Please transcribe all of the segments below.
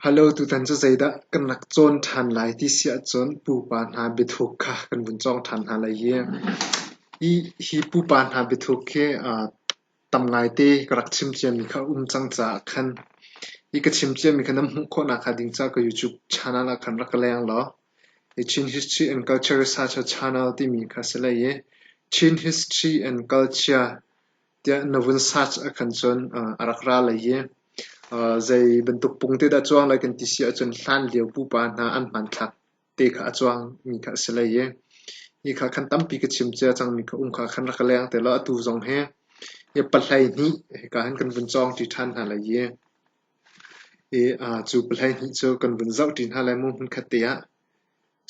Halo tutan cu zeidah kan rak cawn ṭhan lai ti si ahcun pupa hna biathuk kha kan vun cawng ṭhan hna lai hi. Hi pupa hna biathuk hi tam ngaite ka rak chim ciami kha a um cang caah khan hi ka chim ciami kha nan hmuh khawhnak hnga ding caah ka YouTube channel ah khan rak ka leng law hi Chin History and Culture Research Channel timi kha a si lai i Chin History and Culture tiah na vun search ahkhan cun a rak ra lai i zei bantuk pung te dah a cuang lai kan ti si ahcun hlan lio pupa hna an hmanthlak te kha a cuang mi kha a si lai i hi kha khan tampi ka chim cia cangmi kha um kha khan rak ka leng te law atu zong hi hi pahlei hnih hika hin kan vun cawng ṭi ṭhan hna lai i i cu pahlei hnih cu kan vun zoh ṭi hna lai mu hmunkhat te ah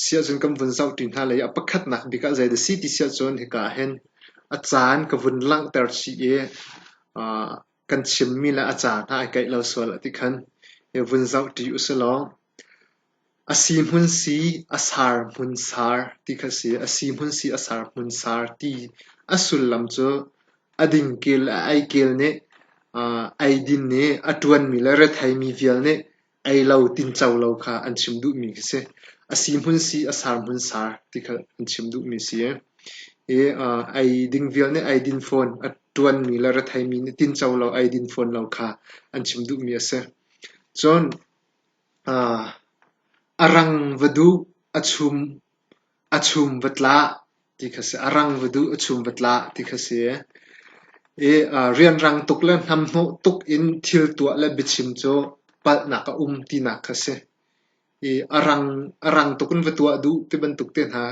Siahcun kan vun zohṭi hna lei a pakhatnak bik ah zei dah a si ti siahcun hika ahhin a caan ka vun langhter chih i kan chimmi le a ca hna ai kaih lo sual a ti khan i vun zohṭi usilaw a si hmun si a sar hmun sar ti kha a si. A si hmun si a sar hmun sar ti a sullam cu a dingkil, a eikel nih, eidin nih, a ṭuanmi le retheimi vial nih Ei lo tinco lo kha an chim duhmi khi si. A si hmun si, a sar hmun sar ti kha an chim duhmi si i, i ei ding vial nih eidin fawn a ṭuanmi le retheimi nih tinco lo, eidin fawn lo kha an chim duhmi a si. Cun a rang va duh, a chum A chum va tlah ti kha a si. A rang va duh, a chum va tlah ti kha a si. I rianrang tuk le hnamhnawh tuk in thil tuah le biachim cu palhnak a um tinak kha a si. I a rang, a rang tuk in va tuah duh ti bantuk te hna.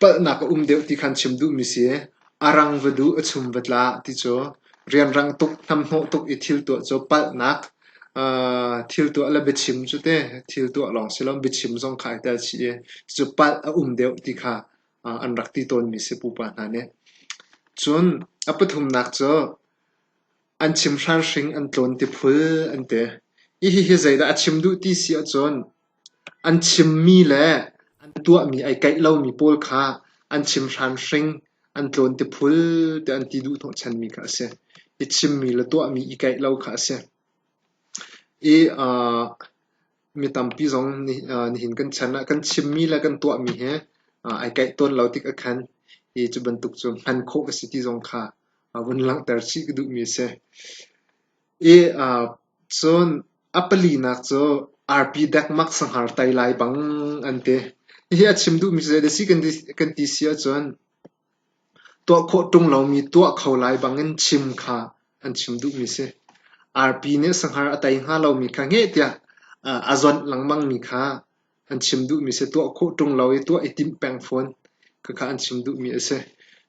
Palhnak a um deuh ti khan chim duhmi si. A rang va duh, a chum va tla ti cu rianrang tuk, hnamhnawh tuk i thil tuah cu palhnak, thil tuah le biachim cu teh thil tuah lawng si lo, biachim zong kha ai tel chih i cucu palh a um deuh ti kha an rak ti tawnmi si pupa hna nih. Cun a pathumnak cu an chimhran hring an tlawn ti phul an ti. Hihi zeidah a chim duh ti si ahcun An chimmi le an tuahmi ai kaih lomi pawl kha an chim hramhring, an tlawn ti phul tiah an ti duhhnawhchanmi kha a si. I chimmi le tuahmi i kaih lo kha a si. I aa mi tampi zong nih aa nihin kan chan ah kan chimmi le kan tuahmi hi aa ai kaih tawn lo tik ahkhan hi cu bantuk cu hman khawh ka si ti zong kha aa vun langhter chih ka duhmi a si. Eap cun a palinak cu arpi dekmak sanghar tai lai bang an ti. Hihi a chim duhmi cu zei dah a si kan ti si ahcun tuah khawh ṭung lomi tuah kho lai bangin chim kha an chim duhmi a si. Arpi nih sanghar a tei hnga lomi kha hngeh tiah a zawnh lengmangmi kha An chim duhmi si. Tuah khawh ṭung lo i tuah i timh peng fawn. Khakha an chim duhmi a si.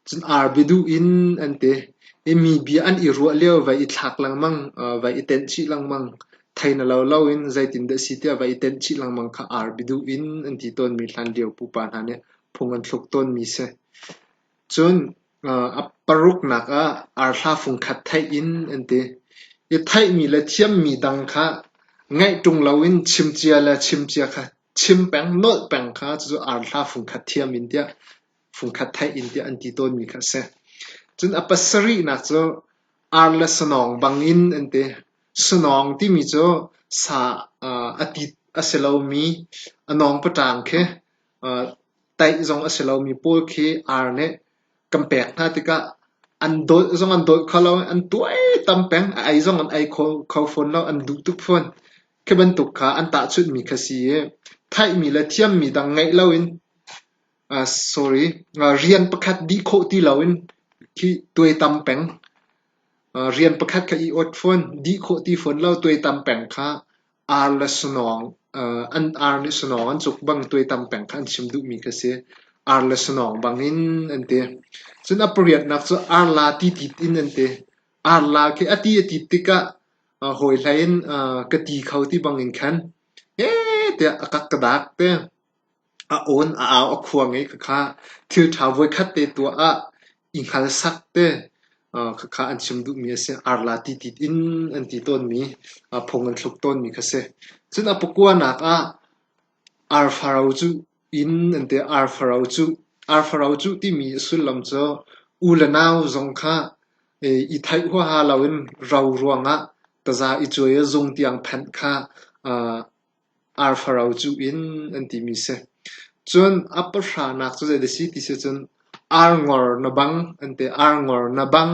Cun arbi duh in an ti. I mi bia an i ruah lio vai i thlak lengmang, vai i tenh chih lengmang. Thei na lo lo in zeitindah a si tiah vai i tenh chih lengmang kha arbi duh in an ti tawnmi hlan lio pupa hna nih phung an thluk tawnmi a si. Cun A paruknak ah arhla fungkhat theih in an ti i theihmi le thiammi dang kha ngaih ṭung loin chimcia le chimcia kha chim peng nolh peng kha cucu arhla fungkhat thiam in tiah fungkhat theih in tiah an ti tawnmi kha a si. Cun a pasarihnak cu ar le sanawng bangin an ti. Sanawng timi cu sa a ti a si lomi a nawng paṭang khi Taih zong a si lomi pawl khi ar nih kan pek hna tikah an dolh zong an dolh kho lo i an tuaitam peng. A ei zong an ei kho fawn lo. An duh tuk fawn. Khi bantuk kha an tahchunhmi kha si i theihmi le thiammi dang ngeih loin rian pakhat dih khawh ti loin khi tuaitam peng. Rian pakhat kha i ot fawn. Dih khawh ti fawn lo. Tuaitam peng kha Ar le sanawng, an ar nih sanawng an cuk bang tuaitam peng kha an chim duhmi kha a si. Ar le sanawng bangin an ti. Cun a pariatnak cu arla titit in an ti. Arla khi a ti a tit tikah hawi hlei in ka ti kho ti bangin khan heh tiah a kak ka daak te. A awn a au a khuang i khakha thilṭha voikhat te tuah ah i hngalsak te khakha an chim duhmi a si. Arla titit in an ti tawnmi, phung an thluk tawnmi kha a si. Cun a pakuanak ah arfaro cu in an ti. Arfaro cu, arfaro cu timi a sullam cu u le nau zong kha i theih huaha loin ro ruangah taza i cuai a zung tiang phanh kha arfaro cuh in an timi a si. Cun a pahranak cu zei a si ti sicun arngor na bang an ti. Arngor na bang,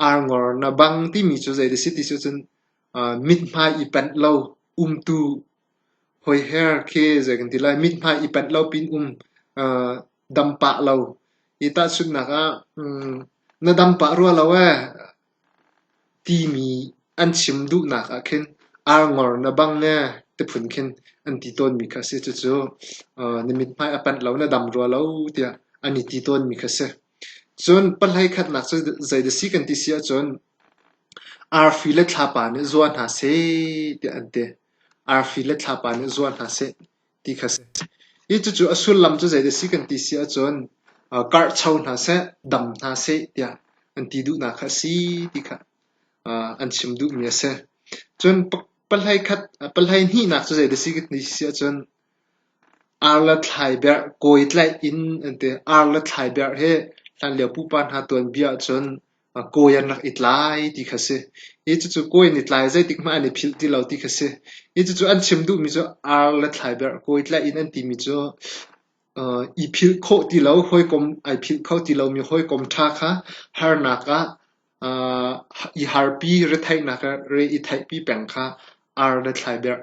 arngor na bang timi cu zei a si ti sicun aa mithmai i panh lo umtu hoiher khi zei kan ti lai. Mithmai i panh lo pin um aa dam pah lo. Hi tahchunhnak ah, na dam pah rua lo ee. Timi an chim duhnak ah khin Arngor na bang ee ti phun khin an ti tawnmi kha a si. Cucu na mithmai a panh lo, na dam rua lo tiah an i ti tawnmi kha a si. Cun pahlei khatnak cu zeidah a si kan ti si ahcun arfi le thlapa nih zuar hna seh tiah an ti. Arfi le thlapa nih zuar hna seh. ti kha a si. I cucu a sullam cu zeidah a si kan ti si ahcun karhcho hna seh, dam hna seh tiah an ti duhnak kha a si ti kha an chim duhmi a si. Cun palhei khat, palhei hnihnak cu zeidah a si kan ti si ahcun ar le thlai berh kawi tlaih in an ti. Ar le thlai berh hi hlanlio pupa hna tuanbia ahcun A kawi an rak i tlai ti kha si. Hi cucu kawi an i tlai, zeitik hmanh an i philh ti lo ti kha si. Hi cucu an chim duhmi cu ar le thlaiberh, kawi tlaih in an timi cu uh, i philh khawh ti lo, hawikom ai philh kho ti lomi hawikom ṭha kha harnak ah uh, i harpi, retheihnak ah re i theihpi peng kha ar le thlaiberh,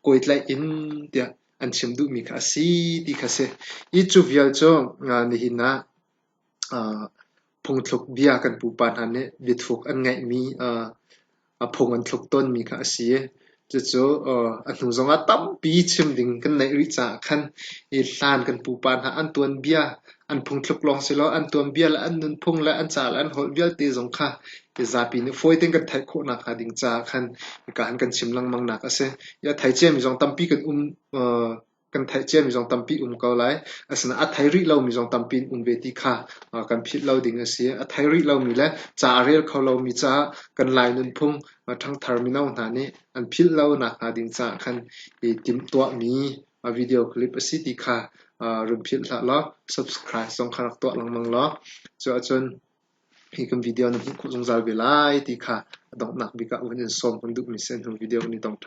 kawi tlaih in tiah an chim duhmi kha a si ti kha si. Hi cu vial cu uh, nihin ah Phungthluk bia kan pupa hna nih biathuuk an ngeihmi a phung an thluk tawnmi kha a si i cucu a hnu zongah tampi chim ding kan neih rih caah khan hi hlan kan pupa hna an tuanbia an phungthluk lawng silaw an tuanbia le an nunphung le an ca le an holh vialte zong kha hi zapi nih fawi tein kan theih khawh nakhnga ding caah khan hika han kan chim lengmang nak a si. Hi a thei ciami zong tampi kan um kan theih ciami zong tampi um ko lai. Asinain a thei rih lomi zong tampi in um ve ti kha kan philh lo ding a si. A thei rih lomi le ca a rel kho lomi caah kan Lai nunphung ṭhangthar mino hna nih an philh lonak hnga ding caah khan i timhtuahmi video clip a si ti kha run philh hlah law subscribe zong kha rak tuah lengmang law cuahcun hi kan video na hmuh khawh zungzal ve lai ti kha a donghnak bik ah van in sawm kan duhmi si hnu video kan i tong ṭhan.